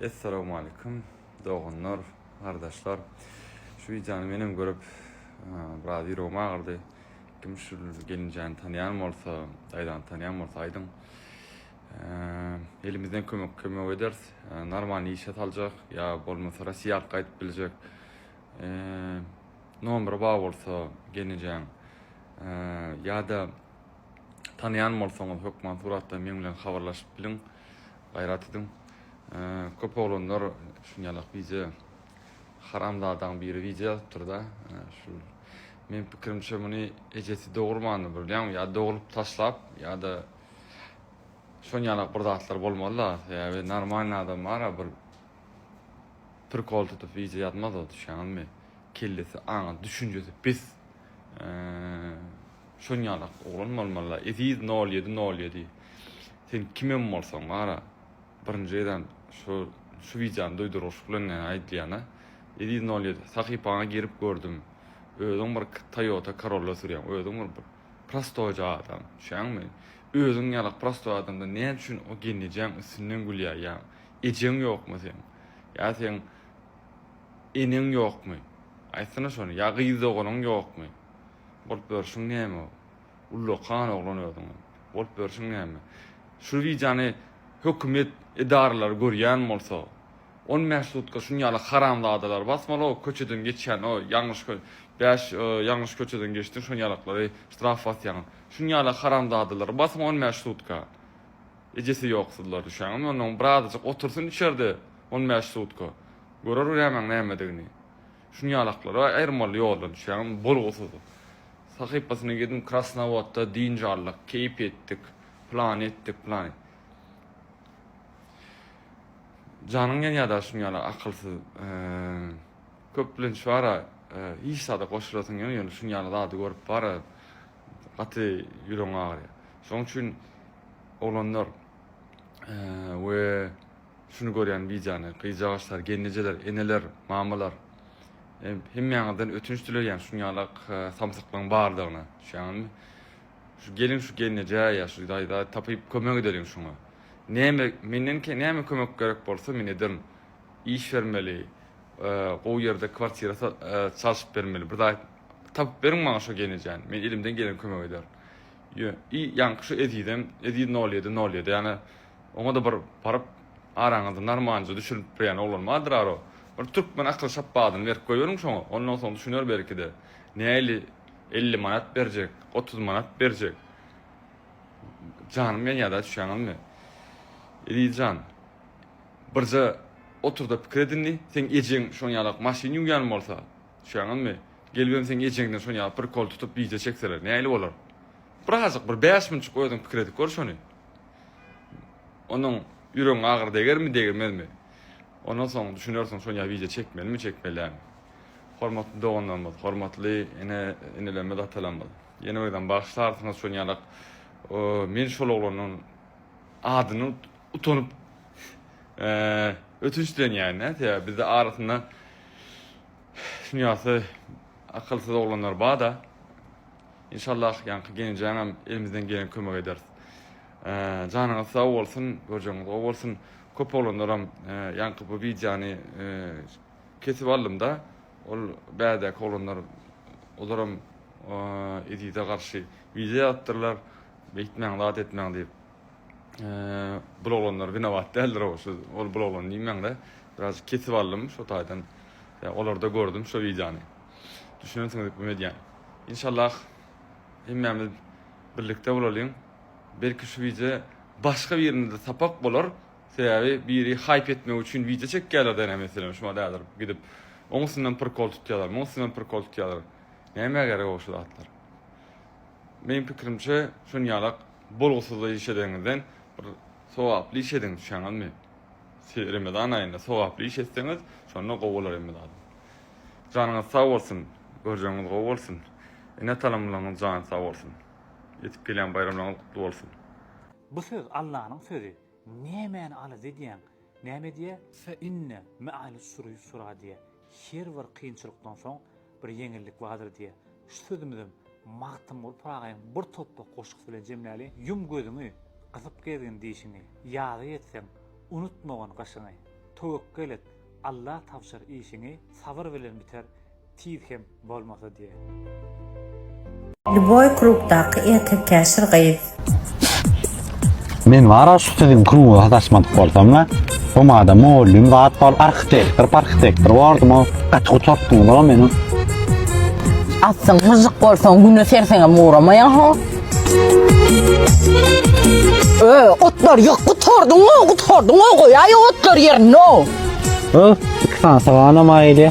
Essalawmalikim doganlar, gardaşlar. Şu wideony menem görüp, biraz ýüregim agyrdy. Kim şu gelinjäni tanýan bolsa, daýzany tanýan bolsa aýdyň. Elimizden kömek kömek ederis. Normal işe saljak ýa bolmasa Russiýa arka aýdyp biljek. Nomeri bar bolsa gelinjäň ýa-da Tanýan bolsaňyz hökman suratdan meň bilen habarlaşyp biliň. Gaýrat ediň. Köp oglanlar şunýalak wideo haramzadaň biri wideo ýazypdyr da şu men pikirimçe muny ejesi dogurmandyr bilýäňmi ýa dogrup taşlap ýa-da şonýalak bir zatlar bolmaly da sebäbi normalny adam bara bir prikol tutup wideo ýazmaz o düşýäňizmi kellesi aňy düşünjesi pis Şoň ýalak oglan bolmaly-la, eziz nol ýedi nol ýedi. Sen kimem bolsaň bar-a, birinji gezem şu şu wideony duýduryş bilen ýa aýdylýan-a. Eziz nol ýedi, sahypaňa girip gördüm, özüň bir Toyota Corolla sürýäň, özüň bir prostoýja adam, düşýäňmi? Özüň ýalak prostoý adamdan näme üçin o gelnejäň üstünden gülýäýýäň? Ejeň ýokmy seň? Ýa seň eneň ýokmy? Aýtsana şony, ýa gyz doganyň ýokmy? Bolup ýörşüň näme o. Ullakan oglan özüň. Bolup ýörşüň näme. Şu wideony hökümet edaralary görýän bolsa, on bäş sutka şuny ýaly haramzadalar basmaly o köçeden geçýän o ýalňyş kö bäş ýalňyş köçeden geçdiň şon ýalaklary ştraf basýaň. Şuny ýaly haramzadalary basyň on bäş sutka. Ejesi ýoksyzlar düşýäňizmi ondan birazajyk otursyn içerde on bäş sutka. Görer nämäň nämedigini. Şuny ýalaklara aýyrmaly ýoldan düşýäňmi, bolgusyz. Sahypasyna girdim, Krasnowodda dynç aldyk, keýp etdik, plany etdik, plany. Janyň ýanýada şuny ýaly akylsyz. Köp bilenç bara, hiç zada goşulasyň gelmedi, ýöne şuny ýaly zady görüp bara gaty ýüregiň agyrýar. Şoň üçin oglanlar we. Şuny görýän bicany gyjagaçlar, gelnejeler, eneler, mamalar, hemmäňizden ötünç dileýän şuň ýala samsyklygyň bardygyna düşýäňizmi? Şu geliň şu gelnejä ýa şu daýza tapyp kömek edeliň şuňa. Näme menden näme kömek gerek bolsa men ederin. Iş bermeli, gowy ýerde kwartira çalşyp bermeli. Bir zat tapyp beriň maňa şo gelnejäni. Men elimden gelen kömegi ederin. Ýa ýaňky şu ezizem, eziz nol ýedi, nol ýedi ýa Oňa-da bir baryp, araňyzy narmanca düşüripbirýän oglan bardyr-a-row. Bir türkmen akyl şapbadyny berip goýberiň şoňa, ondan soň düşüner belki-de. Näli elli manat berjek, otuz manat berjek? Janym ýanýar-da, düşýäňizmi? Eziz jan, birje otur-da pikir et indi. Seň ejeň şoň ýalak maşyn ýuwýan bolsa, düşýäňizmi? Gelibem seň ejeňden şoň ýaly prikol tutup wideo çekseler, näli bolar? Birazajyk bir bäş minutjyk özüň pikir edip gör şony. Onuň ýüregiň agyry degermi degirmezmi? Ondan soň düşünersiň şonýa wideo çekmelimi çekmeli dälmi? Hormatly doganlarymyz, hormatly ene enelerimiz atalarymyz ýene birden bagyşlarsyňyz şonýalak men şol oglanyň adyny utanyp ötünç dilenýän sebäbi bizde arasynda şunýasy akylsyz oglanlar bada. Inşallah ýaňky gelinjäňem elimizden gelen kömek ederis. Janyňyz sag bolsun, görjegiňiz gowy bolsun. Köp oglanlaram ýaňky bu wideony kesip aldymda, ol bädäki oglanlar olaram Ezize garşy wideo ýazypdyrlar, beýtmäň, zat etmäň diýip. Bul oglanlar winobat däldir ow, şu ol bul oglan diýmäňde, biraz kesip aldym, şo taýdan olarda gördüm şo wideony. Düşünensiňiz ykmym edýän. Inşallah hemmämiz birlikde bolalyň. Belki şu wideo başga birinde sapak bolar. Sebäbi biri haýp etmek üçin wideo çekýärler däne meselem şumat häzir gidip oň üstünden prikol tutýarlar muň üstünden prikol tutýarlar. Nämä gerek o şu zatlar. Meň pikirimçe şunýalak bolgusyzda iş edeňizden bir sogaply iş ediň düşýäňizmi. Remezan aýynda sogaply iş etseňiz şonda gowy bolar hemme zat. Janyňyz sag bolsun, görjegiňiz gowy bolsun, ene-atalymlaryňyz jany sag bolsun. Ýetip gelýän baýramlaryňyz gutly bolsun. Bu söz Allanyň sözi nämäni alys edýäň näme diýä fe inne me'al usri ýusra diýä her bir kynçylykdan soň bir ýeňillik bardyr diýä Şu sözümizem Magtymguly Pyragynyň Bir topbak goşgusy bilen jemläli, Ýum gözüňi, gysyp gezgin dişiňi, Ýaza ýetseň, unutmagyn gyşyňy. Töwekgel et, Alla tabşyr işiňi, Sabyr bilen biter, tiz hem bolmasa diýen. Lýuboý klubdaky erkekkäşir gyz. Men wara şu siziň kruga sataşmadyk bolsamla, bu mada mugallym zat bol arhitektor parhitektor bordum o gaty gutartdyňyz o meni. Atsyň myžžyk bolsaň güne serseňem ugramaýaň ho. Ö, otlar ýok gutardyň o gutardyň o goýaý otlar ýerine o. Öf, iki sany saganam aýyly.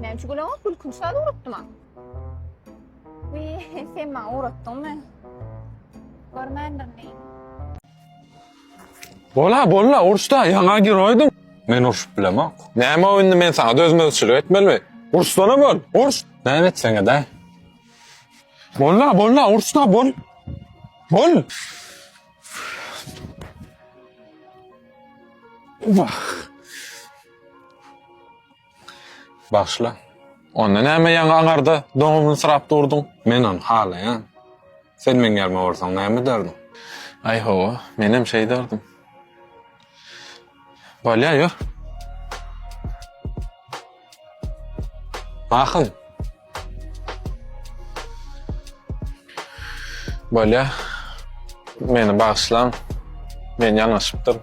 Men şu güne ot gülkün şal ugrutdym ha. Wi, sen maňa ugrutdyň mı? Görmändir ne? Bola, bola, uruşda ýaňa giroýdum. Men urşup bilemok. Näme o indi men sana dözmezçilik etmelimi? Urşsana bol, urş. Näme etseňe de. Bolla, bolla, urşda bol. Bol. Wah. Başla. Onda näme ýaňy aňarda doňubyny syrap durduň? Men ony halaýan. Sen meň ýerime bolsaň näme ederdiň? Aý hawa, menem şeý ederdim. Bolýa, ýör. Mahym. Bolýa. Meni bagyşlaň. Men ýalňyşypdyryn.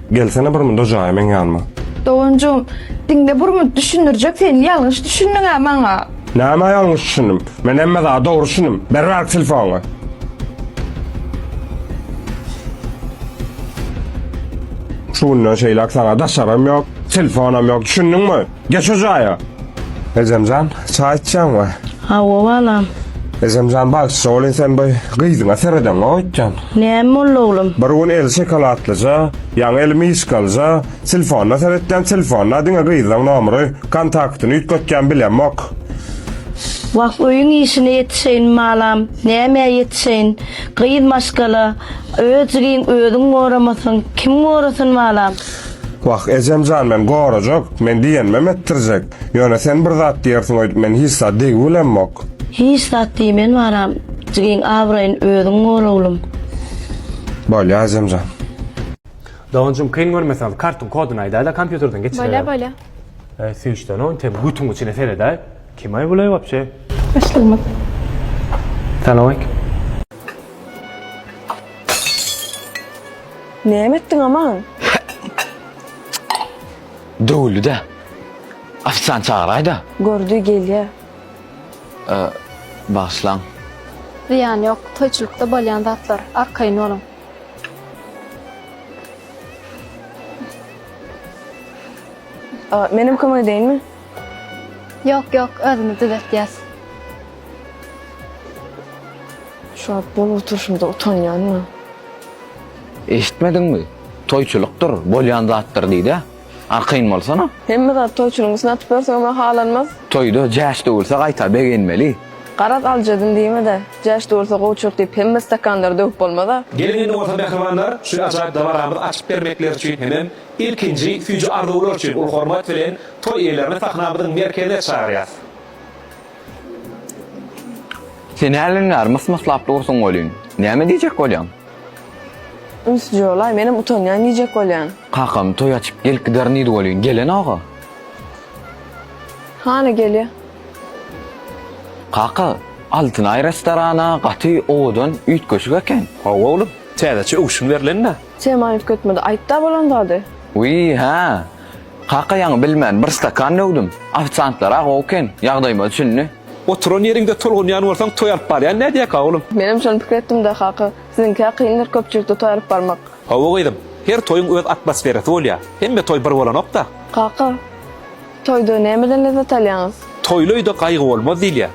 Gelsene bir munda jaýa meň ýanyma. Doganjygym, diňle bir mund düşündirjek sen ýalňyş düşündiňä maňa. Nämä ýalňyş düşündim? Men hemme zady dogry düşündim. Beriberiň telefonyňy. Şu günden şeýläk saňa daşarym ýok, telefonam ýok, düşündiňmi? Geç şu jaýa. Ejemjan, çaý içýäňmi? Hawa, balam. Ejemjan, bagsça welin sen bu gyzyňa seredeňok öýtýän. Näme boldy, oglum? Bir gün eli şokoladlyja, ýaňy eli myşkalyja, telefona seretýän, telefonda diňe gyzlaň nomry, kontaktyny üýtgetýän bilemok. Wah, öýüň işine ýetişeýin, balam. Nämä ýetişeýin? Gyz maşgala, özjigin özüň goramasaň, kim gorasyn, balam? Wah, ejem jan, men gorajak, men diýenimem etdirjek. Ýöne sen bir zat diýersiň öýdüp men hiç zat diýgibilemmok. Hiç zat diýmen baram, jigiň abraýyny özüň gor oglum. Bolýa ejem jan. Doganjym kyn görmeseňiz kartyň kodyny aýdaýla kompýuterden geçireler. Bolýa bolýa. Eý süýşden oň tem gutyň içine seredäý. Kime buleý wapşe? Başlygyma. Salam aleýkum. Näme etdiň Aman? Döwüldi-de. Ofisiant çagyraý-da. Gördi, gelýä. Bagyşlaň. Zyýany ýok, toýçulykda bolýan zatlar. Arkaýyn boluň. Menem kömek edeýinmi? Ýok ýok özümiz düzetýäs. Şuwagt bolup oturşymda utanýanma. Eşitmediňmi? Toýçulykdyr, bolýan zatdyr diýdä. Arkaýyn bolsana. Hemme zat toýçulygyň üstüne atyp ýörseňem-ä halanmaz. Toýda jäş döwülse gaýta begenmeli. Garaz aljadyn diýme-de, jäş döwülse gowuçylyk diýip hemme stakanlary döwüp bolmaz-a. Gelin indi bolsa mähribanlar, şu ajaýyp dabaramyzy açyp bermekleri üçin hemem Ilkinji süýji arzuwlar üçin uly hormat bilen toý eýelerini sahnamyzyň merkezine çagyrýas. Sen hälin bäri mys-myslap dursuň welin, näme diýjek bolýaň? Üns jolaý, menem utanýan diýjek bolýan. Kakam toý açyp gelip giderin diýdi welin, gelenok-a. Hany gelýä. Kaka, Altynaý restorany-a gaty owadan, üýtgeşik eken. Hawa oglum, täzeçe öwşün berlen-dä. Sema üýtgetmedi. Aýtda bolan zady. Wiý, hä. Kaka ýaňy bilmän bir stakan döwdüm. Ofisiantlar-a gowy eken, ýagdaýyma düşündi. Oturan ýeriňde tolgunýan bolsaň toý alyp barýan nädýäka, oglum? Menem şony pikir etdim-dä, kaka. Siziňkä kyndyr köpçülikde toý alyp barmak. Hawa, gyzym. Her toýuň öz atmosferasy bolýar. Hemme toý bir bolanok-da. Kaka, toýda nämeden lezzet alýaňyz? Toýly öýde gaýgy bolmaz diýilýär.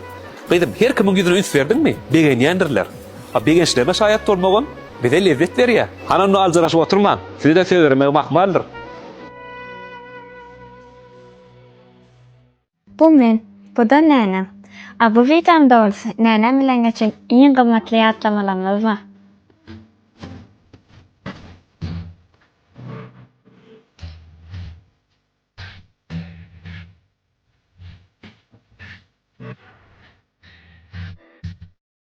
Gyzym, her kimiň ýüzüne üns berdiňmi, begenýändirler. A begençlerine şaýat bolmagam bize lezzet berýär. Hany onda aljyraşyp oturmaň, size-de söz bermegim ahmaldyr. Bu men, bu-da nänem. A bu widam dogrusy nänem bilen geçen iň gymmatly ýatlamalarymyzdyr.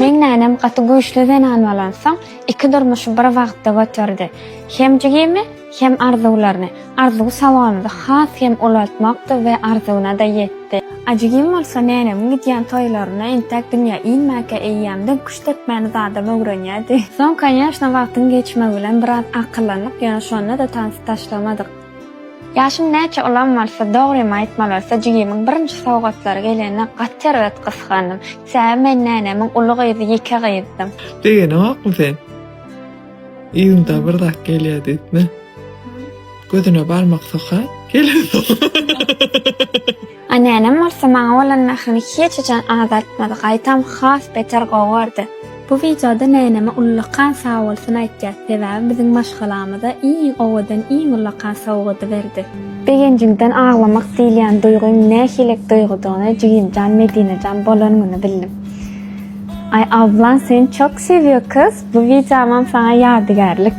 Meň nänem gaty güýçli zenan bolansoň, iki durmuşy bir wagtda göterdi. Hem jigimi, hem arzuwlaryny. Arzuw sawamyzy has hem ulaltmakdy we arzuwyna-da ýetdi. A jigim bolsa nänemiň gidýän toýlaryna entek dünýä inmäkä eýýämden küşt depmäni zadam öwrenýärdi. Soň, konýaşna, wagtyň geçmegi bilen biraz akyllandyk, ýöne şonda-da tansy taşlamadyk. Ýaşym näçe ulam bolsa, dogrymy aýtmaly bolsa, jigimiň birinji sowgatlary gelende gaty erbet gysgandym. Sebäbi men nänemiň uly gyzy, ýeke gyzdym. Begenokmy sen? Yzyňda bir zat gelýär diýipmi? Gözüne barmak sokar, gelen sokar. A nänem bolsa maňa bolan mährini hiç haçan azaltmady, gaýtam has beter gowardy. Bu wideoda näneme ullakan sagbolsun aýtýas, sebäbi biziň maşgalamyza iň owadan iň ullakan sowgady berdi. Begenjimden aglamak diýilýän duýgyň nähilek duýgydygyny jigimjan Medinejan bolan güni bildim. Aý ablan seni çok seviyor kız, bu wideomam saňa ýadygärlik.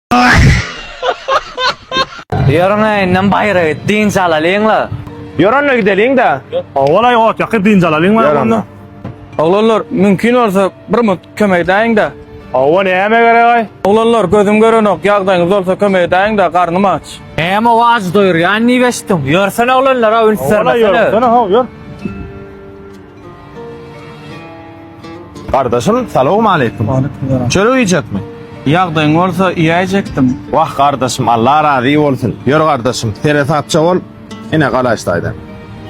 Ýörüň-ä indem baýra git, dynç alalyň-la. Ýör onda gideliň-dä. Owal-aý ot ýakyp dynç alalyň baý onda. Oglanlar, mümkin bolsa, bir mugt kömek edäýiň-dä. Hawa, näme gerek-aý? Oglanlar, gözüm görenok, ýagdaýyňyz bolsa kömek edäýiň-dä, garnym aç. Näme-ow ajy doýurýan diýip eşitdim. Ýörsene oglanlar-a, üns bermesene. Ýörsene-how, ýör. Gardaşym salowmaleýkim. Çörek iýjekmi? Ýagdaýyň bolsa iýäýjekdim. Wah gardaşym Allah razy bolsun. Ýör gardaşym seresapja bol. Ine galaýyş taýdan.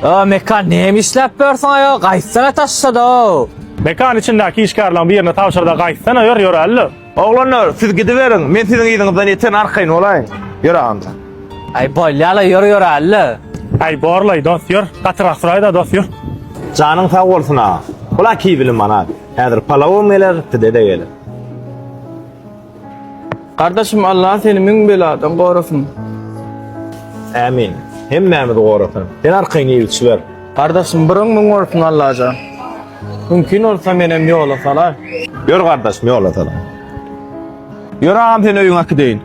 O mekan näme işläp ýörsiň aýol gaýtsana taşşada-ow. Mekan içindäki işgärleriň birine tabşyrda gaýtsana ýör ýöräli. Oglanlar, siz gidiberiň, men siziň yzyňyzdan ýeten arkaýyn bolaýyn. Ýöre onda. Aý, bolýa-la, ýör ýöräli-le. Aý, bor-laý, dost, ýör. Gatyrak suraý-da, dost, ýör. Janyň sag bolsun, aga. Bul-a kibili manat. Häzir palawam geler, pide-de geler. Gardaşym, Alla seni müň beladan gorasyn. Ämin. Hemmämizi gorasyn. Sen arkaýyn iýip-içiber. Gardaşym, bir öňüň bolsun, Allajan. Mümkin bolsa menem ýola salar. Ýör gardaşym ýola salar. Ýör agam seni öýüňe äkideýin.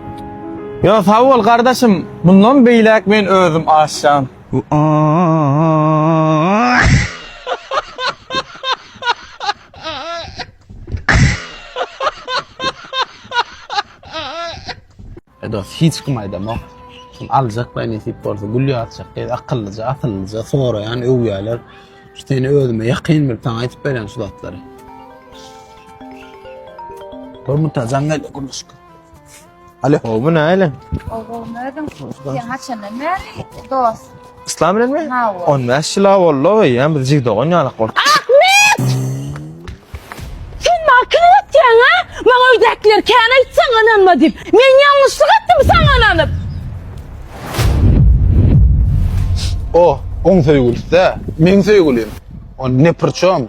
Ýo sag bol gardaşym mundan beýläk men özüm aşjan. E dos hiç kim aýdamok. Kim aljak baý nesip bolsa gül ýazjak gyz akyllyja asyllyja soraýan öwýäler. Şu seni özüme ýakyn bilip saňa aýdyp berýän şu zatlary. Bir mutajan geldi gurluşka. Alo. Obu näle? Obu nädin? Sen haçandan bäri dost? Yslam bilenmi? On bäş ýyl-a boldy-ow, eýýäm biz jig dogan ýalak bolduk. Ahmet! Sen maňa kim öwretýäň, a? Maňa öýdäkiler kän aýtsaň ynanma diýip. Men ýalňyşlyk etdimmi saňa ynanyp? O, oň söýgülisi-dä, meň söýgülim. On ne priçom?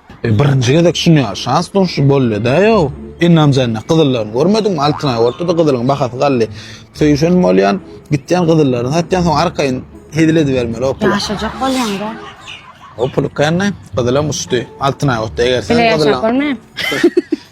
E birinji gezek şunya şans duşdy bolleda yo. Innam jenne gyzyllaryny görmediňmi? Altynaý ortada gyzylyň bahasy gally. Söýüşen bolýan, gitýän gyzyllaryny satýan soň arkaýyn hezil edibermeli o pul. Ýaşajak bolýan da. O pul känne gyzylam uçdy. Altynaý otda eger sen gyzyllaň. Bile ýaşap bolmaýam.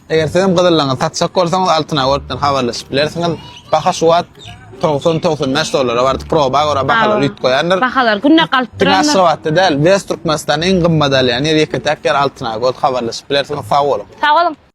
Eger sizem gyzyllaňyzy satjak bolsaňyz Altyn Awotdan habarlaşyp bilersiňiz. Baha şu wagt 90-95 bäş dollara bardy. Proba görä bahalar üýt goýandyr. Bahalar günde galyp durandyr. Diňe Aşgabatda däl, West Türkmenistanda iň gymmat alýan ýer ýeke-täk ýer Altyn Awot habarlaşyp bilersiňiz. Sag boluň. Sag boluň.